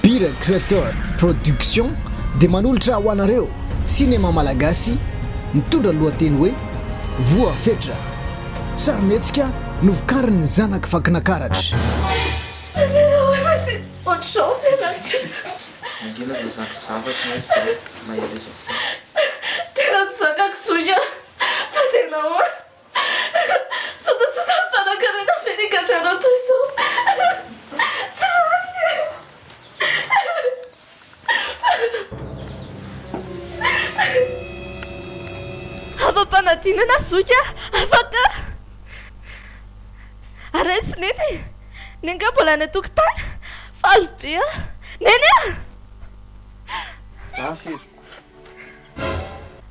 Bira Creator Production dia manolotra ho anareo sinema malagasy mitondra ny lohateny hoe Voa Fetra. Sarimihetsika novokarin'ny zanak'i Vakinakaratra. Sotasota mpanankarena feno gadrana toy izao tsy rariny e! Hafam-panadinana zoky afaka araisy neny e! Neny nga mbola any an-tokotany? Faly be aho! Neny a!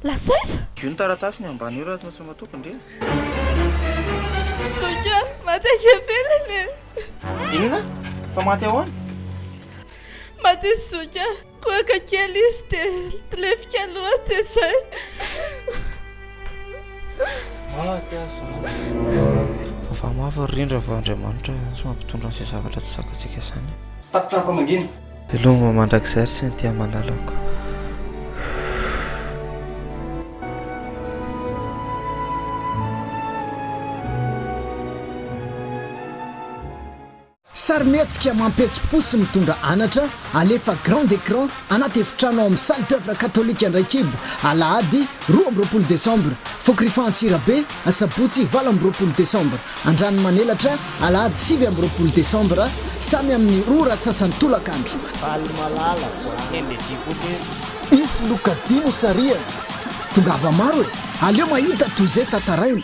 Lasaiza? Dio ny taratasy ny ambany io raha tsy matoky ndry e! Zoky a! Maty aky ivelany e! Inona? Fa maty ahoana? Maty izy zoky a! Kohaka kely izy dia lefika loha dia zay! Maty aho zany! Fa fahamafy ry rindra fa Andriamanitra tsy mampitondra an'izay zavatra tsy zakatsika izany! Tapitra hafa mangina! Veloma mandrakizay ry Cynthia malalako. Sarimihetsika mampihetsi-po sy mitondra anatra, alefa grand écran anaty efitrano ao amin'ny Salle d'oeuvre katolika Andraikibo, alahady roa amby roapolo desambra, fokorifaha Antsirabe, asabotsy valo amby roapolo desambra. Andranomanelatra, alahady sivy amby roapolo desambra, samy amin'ny roa ora sasany tolakandro. Valomalala Voahenjediboly. Hisy loka dimy ho sarihana. Tongava maro e! Aleo mahita toy izay tantaraina.